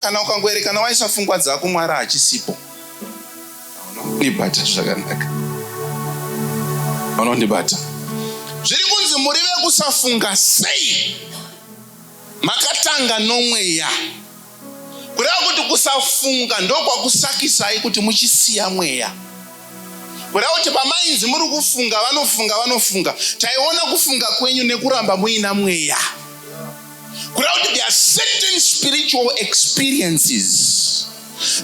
Kana ukangoerekana waisa fungwa dzako Mwari hachisipo. Unondibata zvakanaka. Unondibata. Zviri kunzi muri vekusafunga sei? Makatanga nomweya. Kureva kuti kusafunga ndokwakusakisai kuti muchisiya mweya. Kureva kuti pamainzi muri kufunga vanofunga vanofunga. Taiona kufunga kwenyu nekuramba muina mweya. kureva kuti there are certain spiritual experiences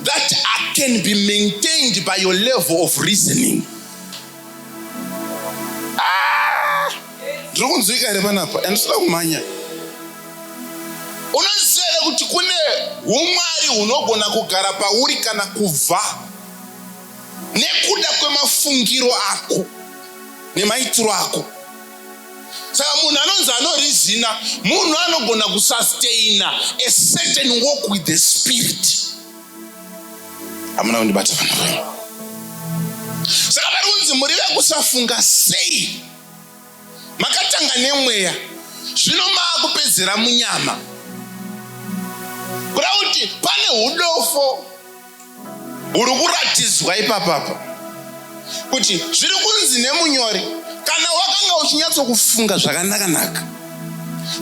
that can be maintained by your level of reasoning ah! ndiri kunzwika here panapa and sida kumhanya unoziva here kuti kune umwari hunogona kugara pauri kana kubva nekuda kwemafungiro ako nemaitiro ako saka munhu anonzi anorizina munhu anogona kusustaina a certain walk with the spirit hamuna kundibata vanhu vayo saka pari kunzi muri vekusafunga sei makatanga nemweya zvino maakupedzera munyama kuda kuti pane udofo uri kuratidzwa ipapapa kuti zviri kunzi nemunyori kana wakanga uchinyatsokufunga zvakanakanaka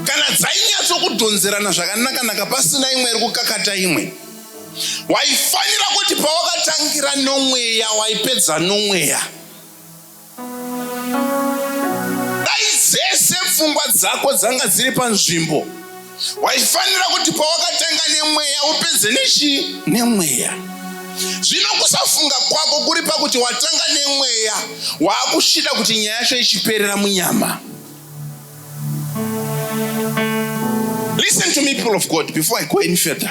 kana dzainyatsokudhonzerana zvakanakanaka pasina imwe iri kukakata imwe waifanira kuti pawakatangira nomweya waipedza nomweya Dai dzese pfungwa dzako dzanga dziri panzvimbo, waifanira kuti pawakatanga nemweya upedze nechii? Nemweya. Zvino kusafunga kwako kuri pakuti watanga nemweya, waakushida kuti nyaya yacho ichiperera munyama. Listen to me, people of God, before I go any further.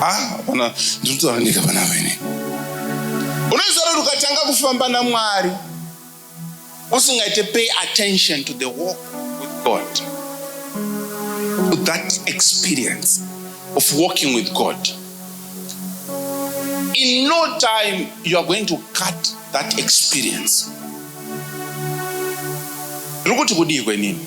hapana ah, ndiri kutaura ndega pana vene unoziva kuti ukatanga kufamba namwari usingaite pay attention to the walk with god to that experience of walking with god in no time you are going to cut that experience ndiri kuti kudii kwenini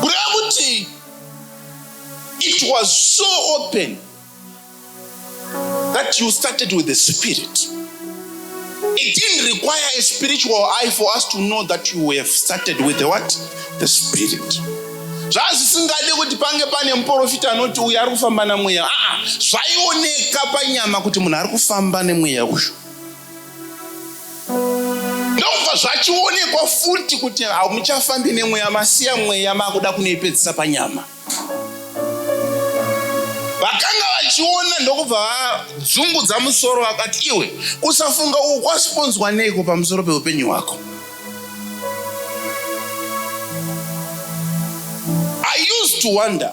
kureva kuti it was so open that you started with the spirit it didn't require a spiritual eye for us to know that you have started with the what the spirit zvazvisingade kuti pange pane muprofita anoti uyu ari kufamba namweya aa ah, ah, zvaioneka panyama kuti munhu ari kufamba nemweya uyu ndokubva zvachionekwa futi kuti hamuchafambi nemweya masiya mweya makuda kunoipedzisa panyama vakanga vachiona ndokubva vadzungudza musoro vakati iwe kusafunga uku kwasiponzwa neiko pamusoro peupenyu hwako i used to wonder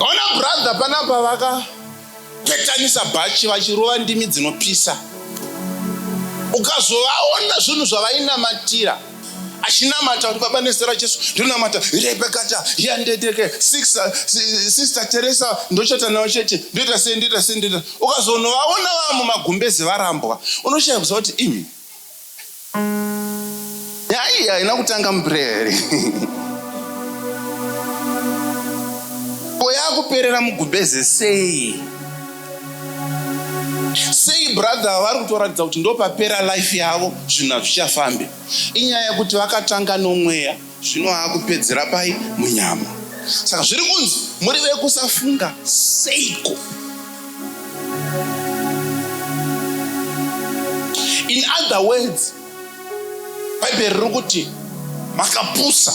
Ona brother panapa vaka petanisa bhachi vachirova ndimi dzinopisa. Ukazovaona zvinhu zvavainamatira achinamata kuti baba nezita rajesu ndonamata rebekata yandedeke sister teresa ndochata nawo chete ndoita sei ndoita sei ndoita ukazonovaona vaa mumagumbeze varambwa unoshaya kuziva kuti imi nyaya iyi haina kutanga muprayer here ko yakuperera mugumbeze sei sei brother vari kutoratidza kuti ndopapera life yavo zvinhu hazvichafambi inyaya yekuti vakatanga nomweya Zvino akupedzera pai? Munyama. Saka zviri kunzi muri vekusafunga seiko? In other words, Bhaibheri riri kuti makapusa.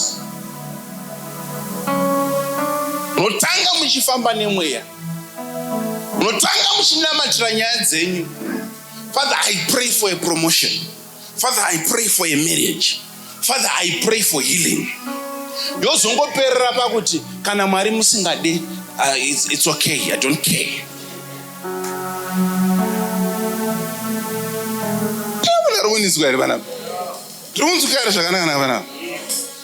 Munotanga muchifamba nemweya, munotanga muchinamatira nyaya dzenyu. Father, I pray for a promotion. father i pray for a marriage father i pray for healing yozongoperera pakuti kana mwari musingade uh, it's, it's okay i don't care tinokuniswa here vanapa tiri kunzwika here zvakanaka na vanapa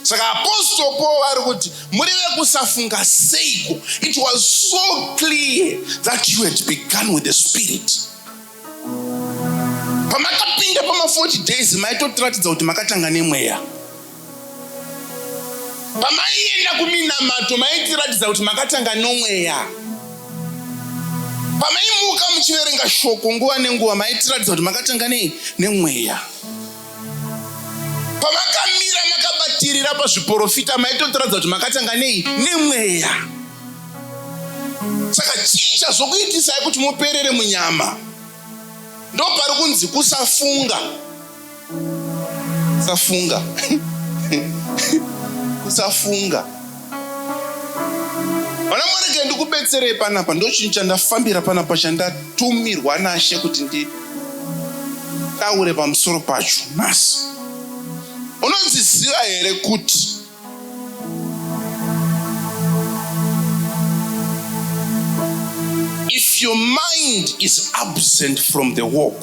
saka apostol paul ari kuti muri vekusafunga seiko it was so clear that you had begun with the spirit pamakapinda pama 40 days maitotiratidza kuti makatanga nemweya pamaienda kuminamato maitiratidza kuti makatanga nomweya pamaimuka muchiverenga shoko nguva nenguva maitiratidza kuti makatanga nei nemweya pamakamira makabatirira pazviporofita maitotiradza kuti makatanga nei nemweya saka chicha zvokuitisai kuti muperere munyama ndo pari kunzi kusafunga kusafunga kusafunga Vana mwarege ndikubetserei panapa, ndochinhu chandafambira panapa chandatumirwa naShe kuti nditaure pamusoro pacho nhasi. Unodziziva here kuti if your mind is absent from the walk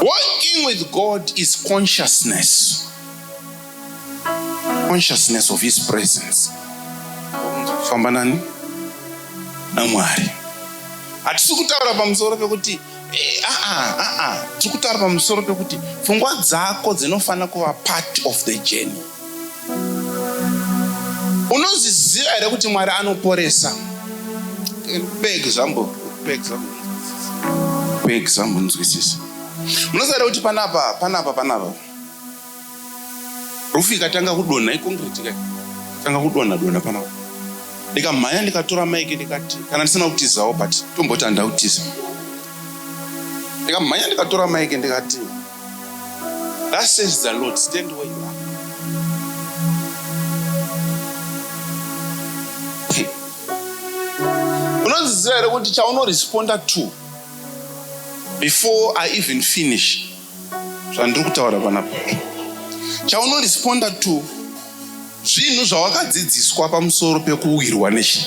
Walking with God is consciousness. Consciousness of his presence. Kufamba nani? Na Mwari. Hatisi kutaura pamusoro pekuti eh, ah, ah, ah, ah. tiri kutaura pamusoro pekuti pfungwa dzako dzinofanira kuva part of the journey. Unozviziva here kuti Mwari anoporesa? Pe example, pe example, pe example, nzwisisa. Unoziva here kuti panapa, panapa, panapa, rufu ikatanga kudonha ikongreti kai tanga kudonha dona panapa ndikamhanya ndikatora maiki ndikati kana ndisina kutizawo but tomboti handakutiza ndikamhanya ndikatora maiki ndikati That says the Lord, stand where you are. Unonziziva here kuti chaunoresponda to before I even finish zvandiri kutaura panapa chaunoresponda to zvinhu zvawakadzidziswa pamusoro pekuwirwa nechi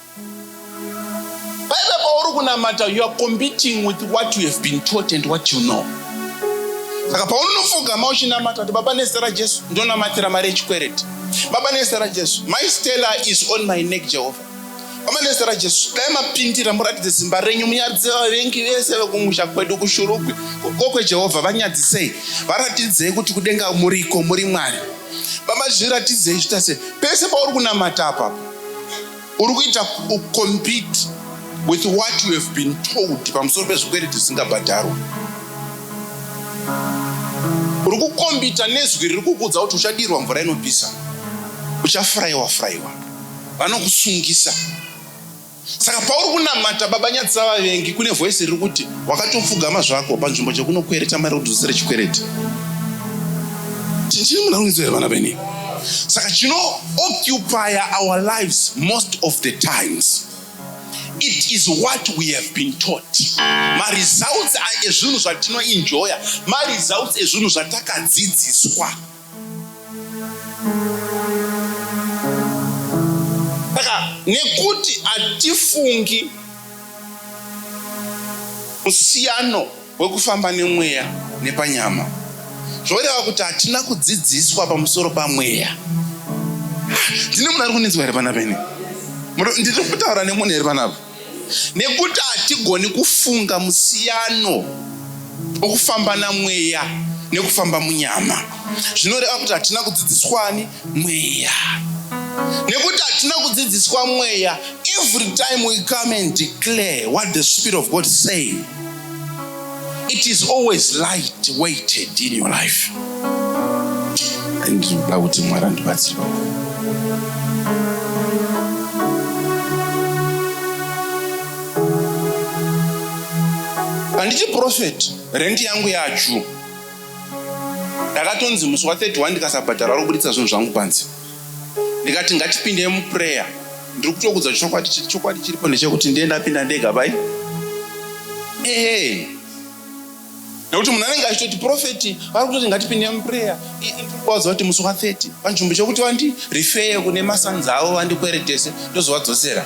Paive pauri kunamata you are competing with what you have been taught and what you know. Saka paunofugama uchinamata kuti baba nezita raJesu ndonamatira mari yechikwereti. Baba nezita raJesu my Stella is on my neck Jehovah. Baba nezita raJesu dai mapindira muratidze zimba renyu munyadze vavengi vese vekumusha kwedu kushurugwi kokwe Jehovah vanyadzisei varatidzei kuti kudenga muriko muri Mwari. Baba, zviratidzei zvitase pese pauri kunamata apa uri kuita ucompete with what you have been told pamusoro pezvikwereti zvisingabhadharwa uri kukombita nezwi riri kukudza kuti uchadirwa mvura inopisa uchafurayiwa furayiwa vanokusungisa saka pauri kunamata baba nyadzisa vavengi kune voisi riri kuti wakatopfugama zvako panzvimbo chekunokwereta mari kudzosere chikwereti chinchini muna rungidzo here vana veni saka chinoocupire our lives most of the times it is what we have been taught maresults ezvinhu zvatinoenjoya maresults ezvinhu zvatakadzidziswa saka nekuti hatifungi musiyano wekufamba nemweya nepanyama zvoreva kuti hatina kudzidziswa pamusoro pamweya ndine munhu ari kunetswa here panapa ini ndiri kutaura nemunhu here panapa nekuti hatigoni kufunga musiyano wokufamba namweya nekufamba munyama zvinoreva kuti hatina kudzidziswani mweya nekuti hatina kudzidziswa mweya every time we come and declare what the spirit of god say It is always light weighted in your life. Ndinoda kuti Mwari andibatsire handiti profeti rendi yangu yachu ndakatonzi musi wa 31 ndikasabhadhara ro kubuditsa zvinhu zvangu panze ndikati ngatipindei muprayer ndiri kutokudza chokwadi chiri chokwadi chiripo ndechekuti ndiye ndapinda ndega bai ehe nekuti munhu anenge achitoti profeti vari kutoti ngatipinde muprayer ndikuvaudza kuti musi wa 30 panzvimbo chekuti vandi rifeye kune masanzi avo vandikweretese ndozovadzosera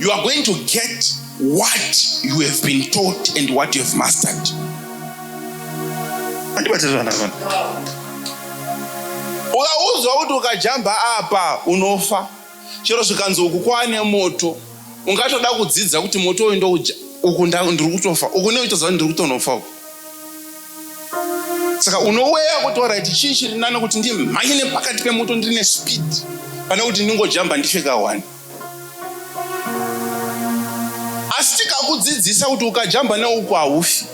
you are going to get what you have been taught and what you have mastered ukaudzwa kuti ukajamba apa unofa chero zvikanzi uku kwaane moto ungatoda kudzidza kuti moto uyu ndouja uku ndiri kutofa uku neuchitoziva ndiri kutonofa uku saka unoweya kuti orit chii chiri nani kuti ndimhanye nepakati pemoto ndine speed pane kuti ndingojamba ndifeka one asi tikakudzidzisa kuti ukajamba neuku haufi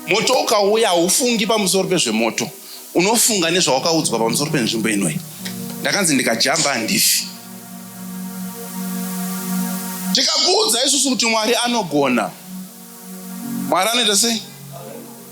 moto ukauya haufungi pamusoro pezvemoto unofunga nezvawakaudzwa pamusoro penzvimbo inoi ndakanzi ndikajamba handifi tikakuudza isusu kuti mwari anogona mwari anoita sei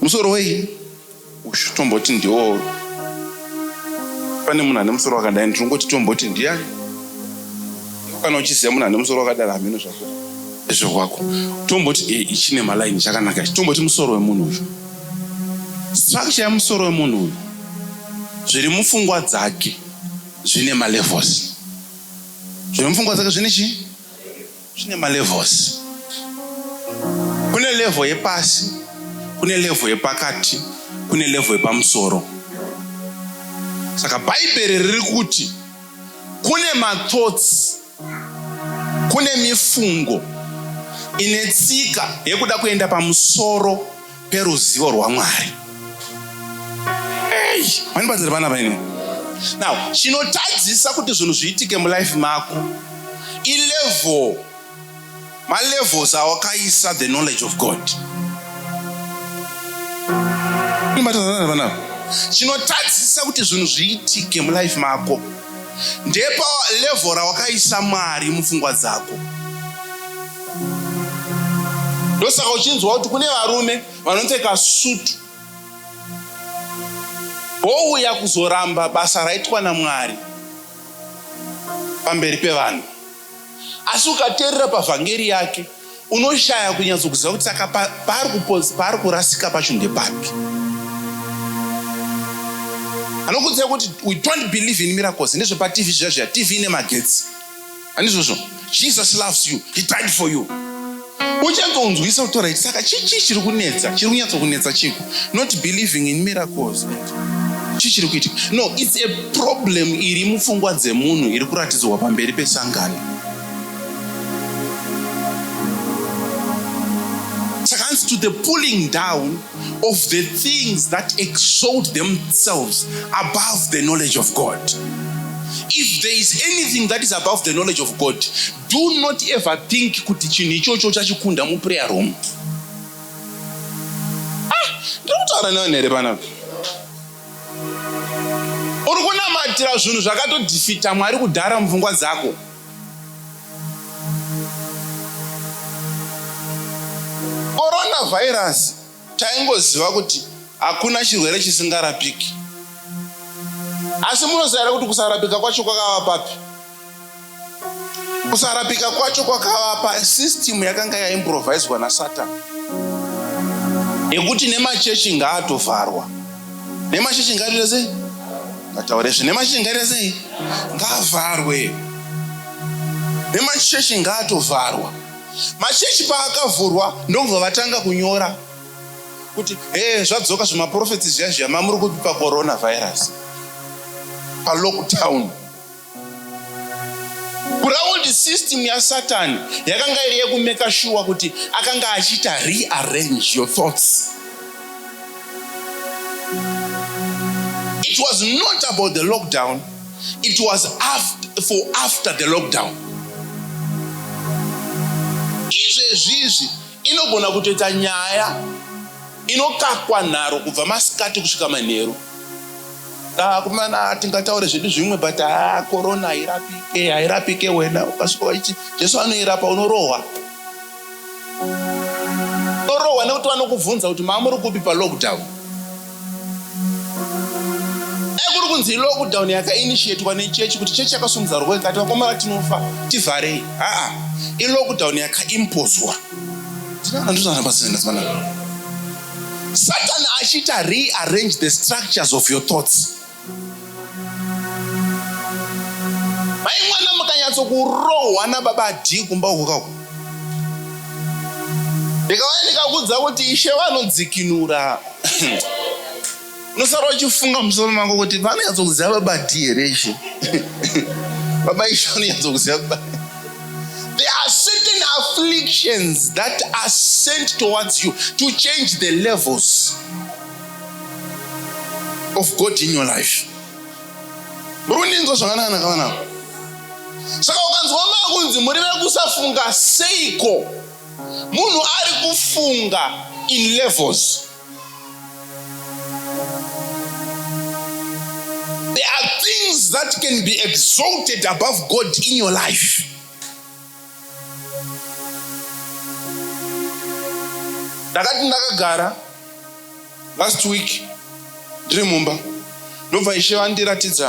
Musoro wei uyu tomboti ndiwo pane munhu ane musoro wakadai ndinongoti tomboti ndiyani kana uchiziva munhu ane musoro wakadaro hameno zvako zvekwako tomboti e eh, ichine malaini chakanaka ichi tomboti musoro wemunhu uyu structure yemusoro wemunhu uyu zviri mupfungwa dzake zvine malevels zviri mupfungwa dzake zvine chii Zvine malevels. Kune level yepasi, kune level yepakati, kune level yepamusoro. Saka Bhaibheri riri kuti kune mathoughts, kune mifungo ine tsika yekuda kuenda pamusoro peruzivo rwaMwari. Hey, mandibatsira vana vaine. Now, chinotadzisa kuti zvinhu zviitike mulife mako ilevel malevels awakaisa the knowledge of God. Mandibatsira vana vanava. Chinotadzisa kuti zvinhu zviitike mulife mako ndepa level rawakaisa mwari mupfungwa dzako ndosaka uchinzwa kuti kune varume vanopfeka sutu vouya kuzoramba basa raitwa namwari pamberi pevanhu asi ukateerera pavhangeri yake unoshaya kunyatsokuziva kuti saka paari kurasika pacho ndepapi anokudzira kuti we don't believe in miracles nezvepatv zviya zviya tv ine magetsi andizvozvo jesus loves you he died for you uchangonzwisa kuti right saka chii chii chiri kunetsa chiri kunyatso kunetsa chiko not believing in miracles chii chiri kuitika no its a problem iri mupfungwa dzemunhu iri kuratidzwa pamberi pesangano saka hanzi to the pulling down of the things that exalt themselves above the knowledge of god if there is anything that is above the knowledge of god Do not ever think kuti chinhu ichocho uchachikunda muprayer room. Ah, ndiri kutaura nevanhu here panapa? Uri kunamatira zvinhu zvakatodhifita Mwari kudhara mupfungwa dzako. Coronavirus taingoziva kuti hakuna chirwere chisingarapiki. Asi munoziva kuti kusarapika kwacho kwakava papi? kusarapika kwacho kwakavapa system yakanga yaimproviswa nasatani yekuti nemachechi ngaatovharwa nemachechi ngaatoita sei ngataure zve nemachechi ngaita sei ngaavharwe nemachechi ngaatovharwa machechi paakavhurwa ndokubva vatanga kunyora kuti e zvadzoka zvemaprofeti zviya zviya mamuri kupi pacoronavirus palockdown Ground system yaSatan yakanga iri yekumeka shuwa kuti akanga achiita rearrange your thoughts. It was not about the lockdown, it was after, for after the lockdown. Izvezvizvi inogona kutoita nyaya inokakwa nharo kubva masikati kusvika manheru. akomana tingataure zvedu zvimwe but haa korona hairapike hairapike wena ukasvika waichi jesu anoirapa unorohwa unorohwa nekuti vanokubvunza kuti maamuri kupi palockdown ekuri kunzi lockdown yakainitiatwa nechechi kuti chechi yakasumudza roko ikati vakomana tinofa tivharei haa ilockdown yakaimpozwa ndinoana ndozvanabasinaa satani achiita rearrange the structures of your thoughts mai mwana mukanyatsokurohwa nababa d kumba uko kako ndikauya ndikakudza kuti ishe vanodzikinura unosara uchifunga musoro mako kuti vanonyatsokuziva baba d here ishe baba ishe vanonyatsokuziva baba there are certain afflictions that are sent towards you to change the levels of god in your life muri kundinzwa zvakanaka nakavanako saka ukanzwa makunzi muri vekusafunga seiko munhu ari kufunga in levels There are things that can be exalted above God in your life. ndakati ndakagara last week ndiri mumba ndobva ishe vandiratidza